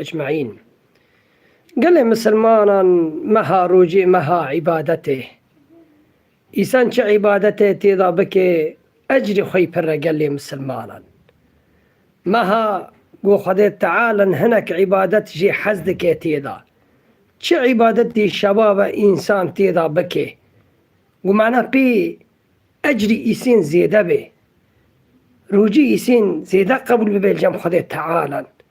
ecmaîn. Gelê misilmanan meha rojê meha îbadet e. Îsan çi îbadete têda bike ecrê xwe yî pir e gelê misilmanan. Meha ku Xwedê Tealen hinek îbadet jê hez dike têda. Çi îbadetê şeva ve însan têda bike ku mena pê ecrê îsên zêde be. Rojê îsên zêde qebûl bibe li cem Xwedê Tealen.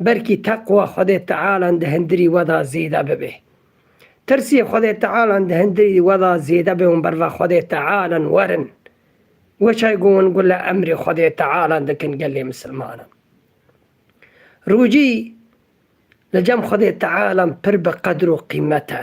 Belkî teqwa Xwedê Tealan di hindirî we de zêde bibe. Tirsê Xwedê Tealan di hindirî we de zêde be hûn berva Xwedê Tealan werin. Weşay ku hûn gule emrê Xwedê Tealan dikin gelê misilmanan. Rojî li cem Xwedê Tealan pir bi qedir û qîmet e.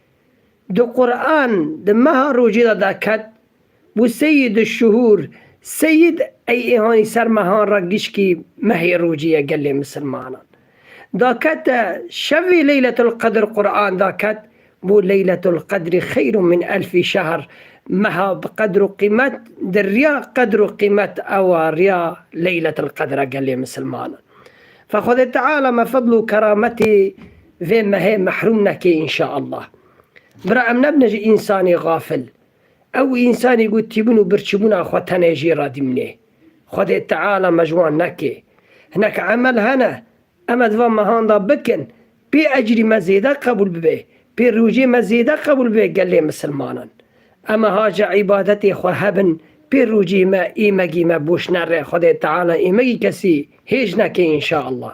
Di Quran di meha rojê de derket bû Seyyidüşşuhûr, Seyyid ey êhanî ser mehan re gişkî mehê rojê ye gelê misilmanan. Dakete şevê Leyletulqedr Quran daket bû Leyletulqedrî xeyrû min elfî şehr meha bi qedr û qîmet di riya qedr û qîmet ewa riya Leyletulqedr e gelê misilmanan. Fexwedê Teala me fedl û kerametê Vê mehê mehrûm nekê înşaallah. Bira em nebne ji însanê xafil. Ew û însanê ku tîbûn û birçîbûna xwe tenê jê re dîmnê. Xwedê Teala me ji wan nekê. Hinek emel hene em ez van mehan de bikin pê ecrî me zêde qebûl bibe, pê rojê me zêde qebûl bibe gelê misilmanan. Em meha ji îbadetê xwe hebin pê rojê me êmegî me boş nere Xwedê Teala êmegî kesî hêj nekê înşaallah.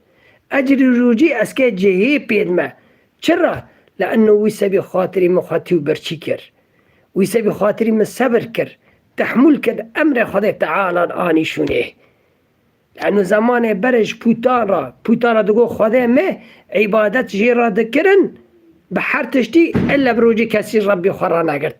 Ecrî rûcî ez ke cêhê pê di me. Çira? Le'nno wî sebî xatirî min xwe tîw birçî kir. Wî sebî xatirî min sebir kir, tehmûl kir, emrê Xwedê Te'alan anî şûnê. Le'nno zemanê bere ji pûtan ra, pûtan ra digot Xwedê me, îbadet jê ra dikirin, bi her tiştî, ille bi rûcî kesî Rebbî xwe ranegirt.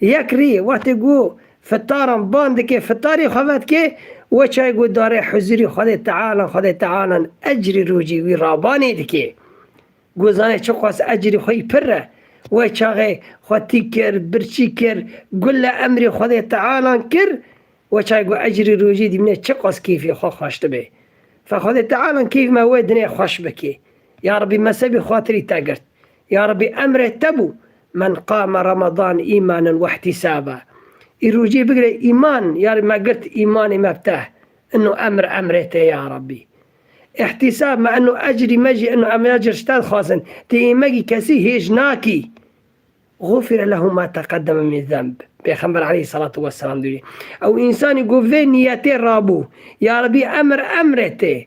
Yek rî, wextê ku fitaran ban dike fitarê xwe vedike, weçayê ku dare huzûrê Xwedê Teala, Xwedê Teala ecrê rojî wî ravanê dike. Ku zanê çiqas ecrê xwe yî pirr e. Weçaxê xwe tîk kir, birçî kir, gule emrê Xwedê Teala kir, weçayê ku ecrê rojî dîmne çiqas keyfê xwe xweş dibe. Fe Xwedê Teala keyf me wê dinê xweş bike. Ya Rebî me sebî xatirî te girt. Ya Rebî emrê te bû men qama Ramadan îmanen wehtisaba îro cî bigirê îman ya Rebî me girt îmanê me bi te ino emr emrê te ya Rebî ihtisab me ino ecrî me jî ino em ecr ji te dixwazin ti yê me gî kesî hêj nakî Gufira lehu ma teqedeme min zenb Pêxember aleyh salatu weselam dûrî ew însanî ku vê niyetê rabû ya Rebî emr emrê te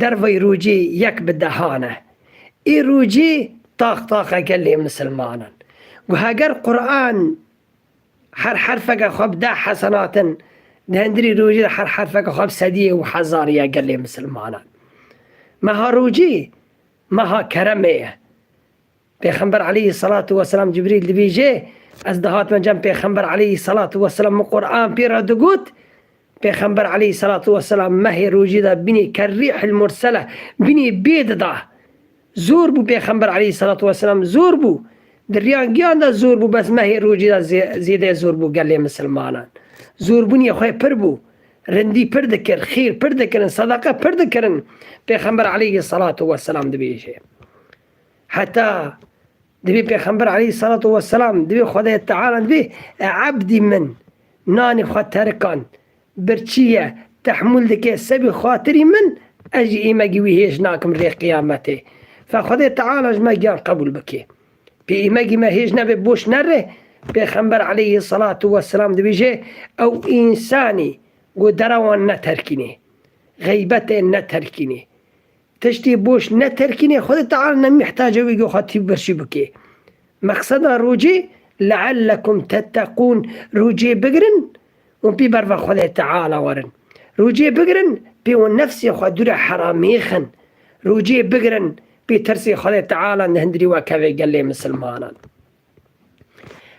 Derveyî rûcî yek bi dehan e. Î rûcî tax taxe gelê misilman in. Ku heger Quran her herfeke xwe bi deh hesenat in, di hindirî rûcî de her herfeke xwe bi sediyê û hezarî ye gelê misilmanan. Meha rûcî meha keremê ye. Pêxember aleyhî selatû weselam Cibrîl dibêje, Ez dihatim cem Pêxember aleyhî selatû weselam min Quran pê re digot, Pêxember aleyhî selatû weselam mehê rojê de binê kerrîhil mursele binê bê dida. Zor bû Pêxember aleyhî selatû weselam zor bû. Di riyan giyan de zor bû bes mehê rojê de zêde zor bû gelê misilmanan. Zorbûniyê xwe pir bû. Rindî pir dikir, xêr pir dikirin, sedeqe pir dikirin. Pêxember aleyhî selatû weselam dibêje. Heta divê Pêxember aleyh salatu weselam divê Xwedayê Teala divê e ebdî min nanê xwe terikand, birçî ye, tehmûl dike sebî xatirî min ez jî îmegî wî hêj nakim rê qiyametê. Fe Xwedê Teala ji me giyan qebûl bike. Pê îmegî me hêj nebe boş nere, Pêxember aleyh salatu weselam dibêje ew însanî ku derewan neterkînê, xeybetê neterkînê, Tiştê boş ne terkînê xwe di teal ne mîhtaca wî go xwe tîv birçî bikê. Meqseda rojê leellekum tetteqûn rojê bigirin û pê berva Xwedê teala werin. Rojê bigirin pê wan nefsê xwe dûre heramiyê xin. Rojê bigirin pê tirsê Xwedê teala di hindirî we keve gelê misilmanan.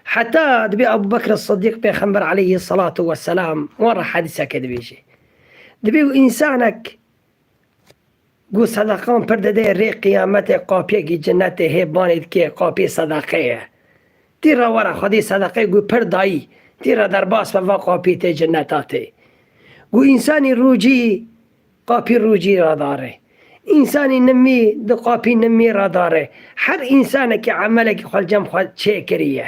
Heta dibê Ebû Bekr Siddîq pêxember aleyhî selatu weselam wan re hedîseke dibêje. Dibê ku însanek Ku sedeqan pir dide rê qîyametê qapiyekî cinetê hê banê dike qapiyê sedeqê ye. Tî re were xwedî sedeqê ku pir dayî tî re derbas be va qapiyê tê cineta tê. Ku însanî rûcî qapî rûcî ra dare. Însanî nimî di qapî nimî ra dare. Her însanekî emelekî xwe li cem xwe çêkiriye.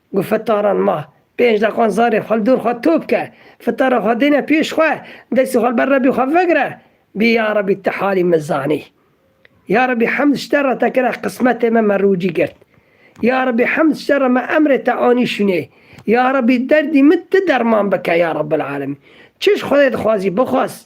Ku fitaran ma pênc deqan zarê xwe li dûr xwe to bike, fitara xwe dêne pêş xwe, destê xwe li ber Rebî xwe vegire, bî ya Rebî tu halî min zanî. Ya Rebî hemd ji te re te kire qismetê me me rûcî girt. Ya Rebî hemd ji te re me emrê te anî şûnê. Ya Rebî derdî min tu derman bike ya Rebbil Alemîn. Çi ji Xwedê dixwazî bixwaz.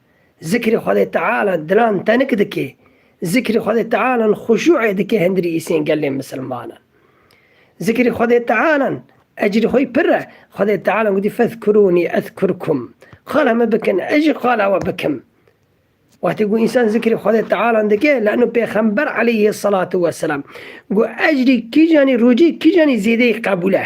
Zikrê Xwedê Teala dilan tenik dike. Zikrê Xwedê Tealan xuşûê dike hindirî îsên gelê misilmanan. Zikrê Xwedê Tealan ecrê xwey pir e. Xwedê Teala gotî fezkurûnî ezkurkum. Xala min bikin ez jî xala we bikim. Wextê ku însan zikrê Xwedê Tealan dike, lano Pêxember aleyhî selatû weselam got, Ecrê kîjanî rojê kîjanî zêdeyî qebûl e.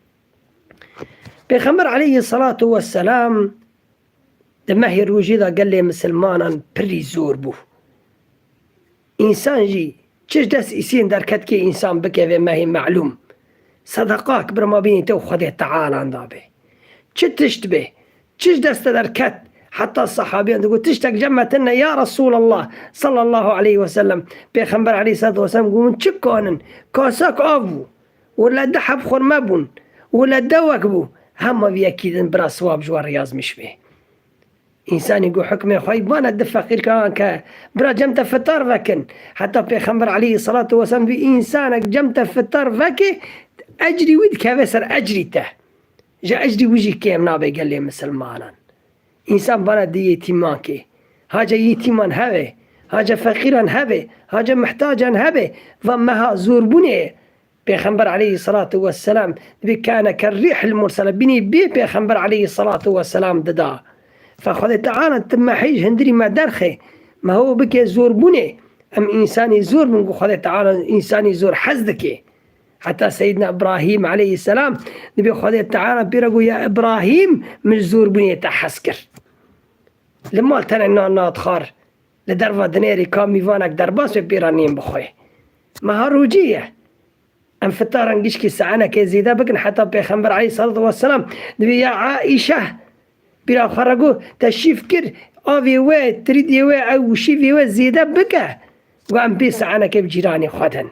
Pêxember aleyhî selatu weselam di mehê rojê de gelê misilmanan pirî zor bû. Însan jî çi ji dest îsên derket kê însan bikeve mehê melûm. Sedeqa ki bir mabênê te û Xwedê Tealan de be. Çi tişt be, çi ji dest te derket Heta sahabiyan digot tiştek cem me tine ya Resulallah sallallahu aleyhi ve sellem. Pêxember aleyhi salatu vesselam got min çi kanin? Kasak av bû. Wele di heft xurme bûn. Wele dewek bû. Hema vî yekî din bira siwab ji we riyaz mişbê. Însanî gu hukmê xwe yî bane di feqîrkaran ke bira cem te fitar vekin. Heta pêxember aleyhî selatû weselam vî însanek cem te fitar vekê ecrî wî dikeve ser ecrî te. Ji ecrî wî jî kêm nabe gelê misilmanan. Însan bala di yetîman kê. Haca yetîman hebe, haca feqîran hebe, haca mihtacan hebe. Va meha zorbûnê ye. Pêxember aleyhî selatu weselam dibê kane kerrîhil mursele bînî bê pêxember aleyhî selatu weselam dida. Va Xwedê Teala ti mehê ji hundirî me derxe, meha we bike zorbûnê. Em însanî zor bin ku Xwedê Teala însanî zor hez dike. Heta Seyyidna Îbrahîm aleyhî selam dibê Xwedê Teala pê re got ya Îbrahîm min ji zorbûnê te hez kir. Li mal tenê nan nadixwar, li derva dinêrê ka mîvanek derbas be pê re nîn bixwe. Meha rojî ye. Em fitaran gişkî saenekê zêde bikin heta Pêxember aleyhî selatû weselam dibê ya Aîşe pîra xwe re got te şîf kir avê we, tirîdê we ew û şîvê we zêde bike. Got em pê saenekê bi cîranê xwe din.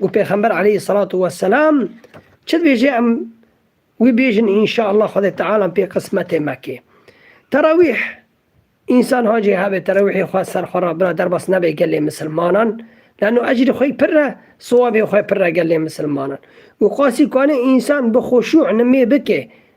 Û Pêxember aleyhî selatu weselam çi dibêje em wî bêjin înşeallah Xwedê Teala pê qismetê me kê. Terawîh însan hacê hebê terawîhê xwe ser xwe re bira derbas nebe gelê misilmanan lano ecrê xwe pir re siwabê xwe pir re gelê misilmanan. Û qasî ku anê însan bi xuşû nimê bike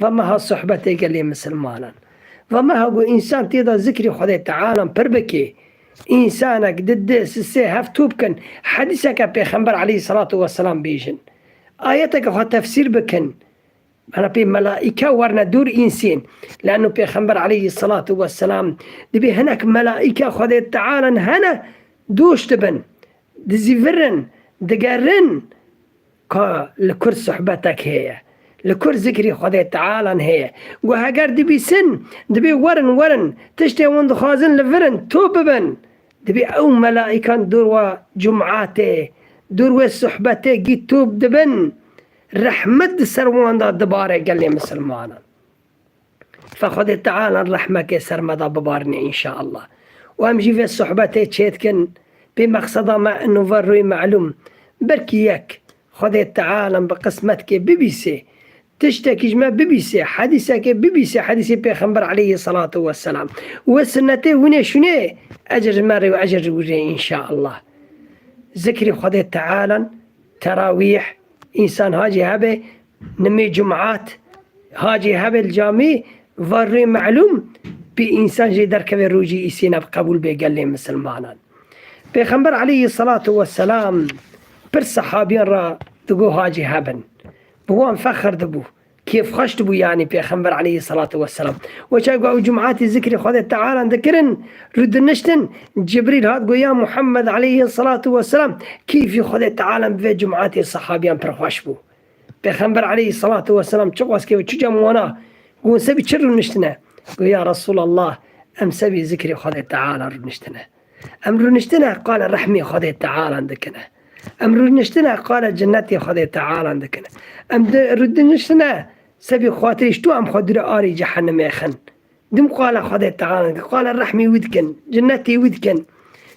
Va meha sohbetê gelê misilmanan. Va meha ku însan tê de zikrê Xwedê Tealan pir bike. Însanek di di si sê heft tu bikin, hedîseke Pêxember aleyhîsselatu weselam bêjin. Ayeteke xwe tefsîr bikin. Mana pê melaîke werne dûr însên. Leano Pêxember aleyhîsselatu weselam dibê hinek melaîke Xwedê Tealan hene, doş dibin, dizivirin, digerin. Ka li kurd sohbetek heye, li kurd zikrî Xwedê Tealan heye. Gu heger dibîsin, dibê werin werin, tiştê wan dixwazin li vir in, to bibin. Dibê ew melaîkan dûr wa cumatê, dûr wê sohbetê gî tûb dibin. Rehmet di ser wan da dibare gelê misilmanan. Lutfa Xwedê Teala rehmetê ser me de bibarinê inşaallah. Û em jî vê sohbetê çêdikin pê mexseda me û ve rûyê melûm belkî yek Xwedê Teala bi qismetkê bibîsê tiştekî ji me bibîsê hedîsekê bibîsê hedîsê pêxember aleyhî selatû weselam û wê sinetê winê şûnê ecr ji me rê û ecr ji wî rê inşaallah. Zikrê Xwedê Teala, Terawîh, Însan hacê hebe nimê cumat hacê hebe li camê va rê melûm pê însan jê derkeve rojî îsê nav qebûl bê gelê misilmanan. Pêxember aleyhî selatu weselam pir sehabîyan ra digo hacê hebin. Bi wan fexr dibû. Kêfxweş dibû yanî Pêxember aleyhî selatû weselam. Weşa ku ew cum'atî zikrê Xwedê Teala dikirin, rûdiniştin, Cibrîl hat got, Ya Muhemmed aleyhî selatû weselam, kêfî Xwedê Teala bi vê cum'atê sehabîyan pir xweş bû. Pêxember aleyhî selatû weselam çi xweskê û çi cem wana ku hûn sebî çi rûniştine? Got, Ya Resûlallah, em sebî zikrê Xwedê Teala rûniştine. Em rûniştina qala rehmê Xwedê Tealan dikine. Em rûniştina qala cinnetê Xwedê Tealan dikine. Em rûdiniştina sebî xatirî ştu em xwe dûra arî cehenimê xin. Dim qala Xwedê Tealan dikin, qala rehmê wî dikin, cinnetê wî dikin.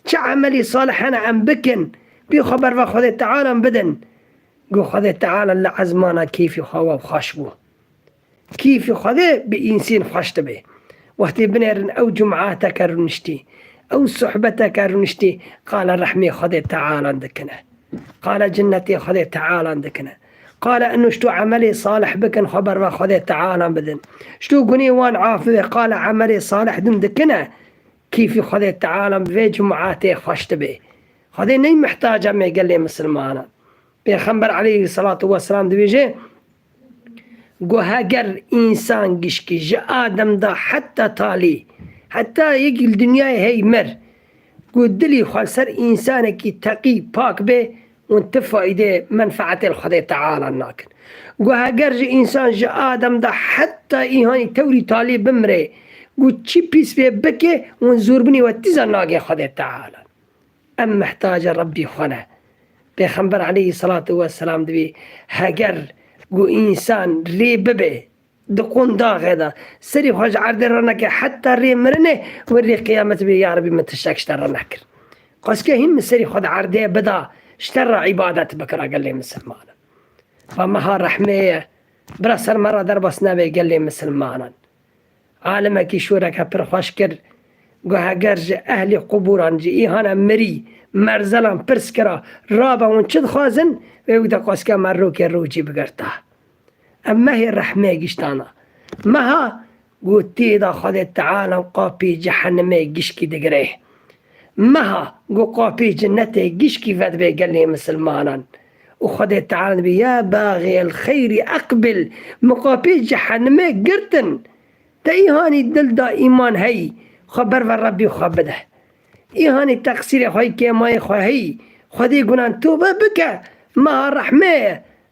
Çi emelî salih hene em bikin, bî xwe berva Xwedê Tealan bidin. Go Xwedê Teala li ezmana keyfê xwe we xweş bû. Keyfê Xwedê bi însên xweş dibe. Wextê binerin ew cum'ateke rûniştî, ew suhbeteke rûniştî qala rehmê Xwedê Tealan dikine. Qala cinnetê Xwedê Tealan dikine. Qala ino şto emelê salih bikin xwe berva Xwedê Tealan bidin. Şto gunê wan afive qala emelê salih din dikine. Keyfê Xwedê Tealan bi vê cum'atê xweş dibe. Xwedê ney mihtaca me gelê misilmanan. Pêxember aleyhî selatû weselam dibêje, Ku heger însan gişkî ji Adem da heta talî, heta yekî li dinyayê heye mer, ku dilî xwe li ser însanekî teqî pak bê, hûn ti faîdeyê menfeetê li Xwedê Teala nakin. Ku heger jî însan ji Adem da heta îhanî tewrî talî bimire, ku çi pîs vê bike, hûn zûrbinî we tîza nagihê Xwedê Teala. Em mihtacê Rebbî xwe ne. Pêxember aleyhî selatû we selam di vî heger ku însan rê bibe di qûndaxê de serê xwe ji erdê re neke heta rê mirinê wê rê qiyamete bî ya Rebbî min tiştek ji te re nekir. Xwezke hîn min serê xwe di erdê bida ji te re îbadet bikira gelê misilmanan. Va meha rehmê ye bira ser me re derbas nebe gelê misilmanan. Alimekî şoreke pir xweş kir, got, Heger ji ehlê qubûran, ji îhana mirî, merzelan pirs kira, rabe hûn çi dixwazin, wê wî dixwestkiya me rokê rû cî bigirta. Ev mehê rehmê giştana. Meha, ku tê de Xwedê Teala qapî cehenimê gişkî digire. Meha ku qapî cenetê gişkî vedibê gelê misilmanan û Xwedê Teala dibê ya Baghî el-Xeyrî Eqbil, min qapî cehenimê girtin. Te îhanî dil da îman heyî, xwe ber ve Rebbî xwe bide. Îhanî teqsîrê xweyî kêmayê xweheyî, Xwedî gunan tobe bike, meha rehmê ye.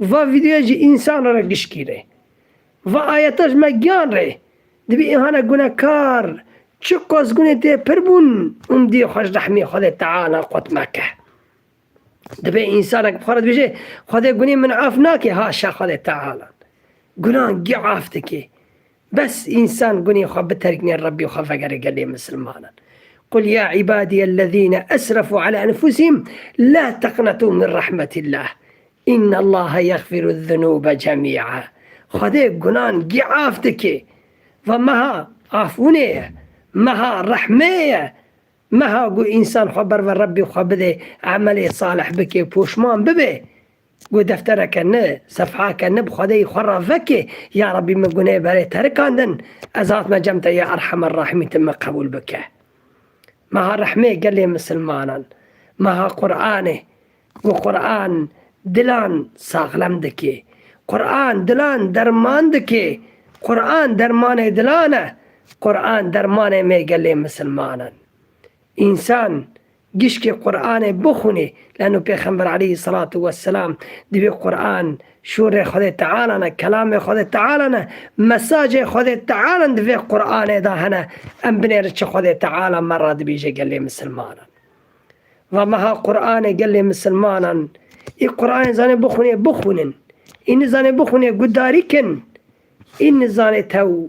Va vîdeoya ji însan re gişkî re. Va ayeta ji me giyan re. Dibî îhane gunekar çi qozgunê tê pir bûn û min dî xweşrehmî Xwedê Teala qut meke. Dibe însanek bi xwe re dibêje Xwedê gunê min af nake haşa Xwedê Teala. Gunan giy af dike. Bes însan gunê xwe biterkne Rebbî xwe vegere gelê misilmanan. Qul ya îbadiyellezîne esrefû ala enfusihim la teqnetû min rehmetîllah înnallâhe yexfirûzzunûbe cemî'a. Xwedê gunan gî af dike. Va meha afûnê ye, meha rehmê ye. Meha ku însan xwe ber ve Rebbî xwe bide, emelê salih bike, poşman bibe. Got deftereke ni, sefhake ni bi xwedeyî xwe re vekê, Ya Rebî min guneyê berê te rikandin, ez hatime cem te ya Erhemer Rahîmîn tu min qebûl bike. Meha rehmê gelê misilmanan, meha Quranê ku Quran dilan saxlem dikê, Quran dilan derman dikê, Quran dermanê dilan e, Quran dermanê mê gelê misilmanan. Însan Gişkê Quranê bixwînê lano Pêxember aleyhî selatû weselam divê Quran şûrê Xwedê Teala ne, kelamê Xwedê Teala ne, mesajê Xwedê Teala ne di vê Quranê de hene. Em binêrin çi Xwedê Teala me re dibêje gelê misilmanan. Va meha Quranê gelê misilmanan ê Quranê zanê bixwînê bixwînin, ê nizanê bixwînê gudarî kin, ê nizanê tew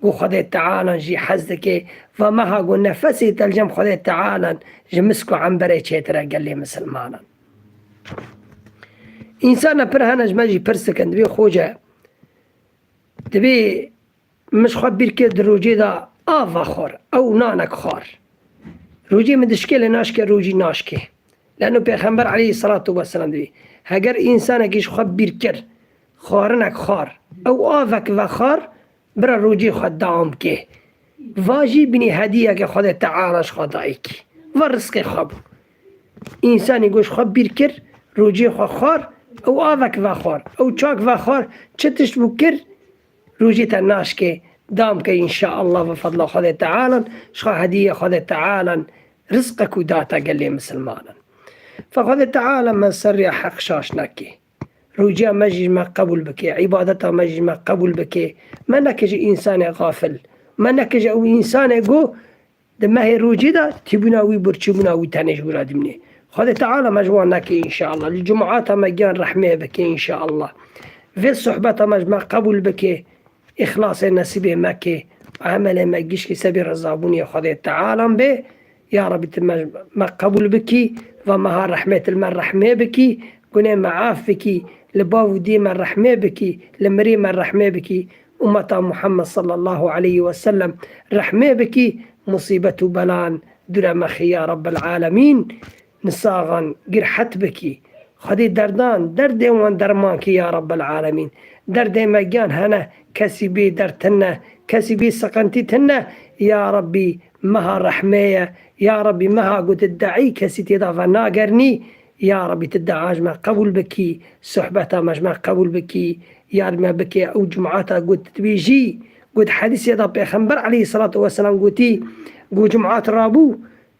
Ku Xwedê Tealan jî hez dike. Va meha ku nefesê telcem Xwedê Tealan ji misk û emberê çêtir e gelê misilmanan. Însanan pir hene ji me jî pirs dikin, dibê Xoce, dibê min ji xwe bîr kir di rojê de av va xwar, ew nanek xwar. Rojê min dişkê lê naşke rojî naşkê. Lano Pêxember aleyhî selatû weselam dibê, heger însanekî ji xwe bîr kir xwarinek xwar, ew avek vexwar Bira rojê xwe dam bike. Va jî bînî hediyeke Xwedê Teala ji xwe dayikî. Va rizqê xwe bû. Însanî ku ji xwe bîr kir, rojê xwe xwar, ew avek vexwar, ew çak vexwar, çi tişt bû kir, rojê te naşkê, dam bike înşeallah bi fedla Xwedê Teala ji xwe hediyê Xwedê Teala rizqe ku date gelê misilmanan. Fa Xwedê Teala me serrîya heq şaş neke. Rûciya me jî ji me qebûl bike, îbadeta me jî ji me qebûl bike. Me neke ji însanê xafil. Me neke ji ew însanê ku di mehê rûcî de tîbûna wî birçîbûna wî tenê ji wira dimîne. Xwedê Teala me ji wan neke înşeallah. Li cumata me giyan rehmê bike înşeallah. Vê sohbeta me ji me qebûl bike. Îxlasê nesîbê me kê û emelê me gişkî sebî rezabûniyê Xwedê Tealan bê. Ya Rebî tu me me qebûl bikî, va meha rehmêt li me rehmê bikî, gunê me af bikî, li bav û diyê me rehmê bikî, li mirî me rehmê bikî, ummeta Muhammed sallallahu aleyhi ve sellem rehmê bikî, musîbet û belan dûre mexî ya Rebbil alemîn. Nisaxan gir het bikî. Xwedê derdan derdên wan derman kî ya Rabbel Alemîn. Derdên me giyan hene, kesî bê derd tin ne, kesî bê siqentî tin ne, ya Rabbî meha rehmê ye, ya Rabbî meha ku tu deî kesî têda venagernî, ya Rabbî tu dua ji me qebûl bikî, suhbeta me ji me qebûl bikî, yad me bikê ew cumata ku tu dibêjî, ku di hedîsê de pêxember eleyhî selatû weselam gotî, ku cumat rabû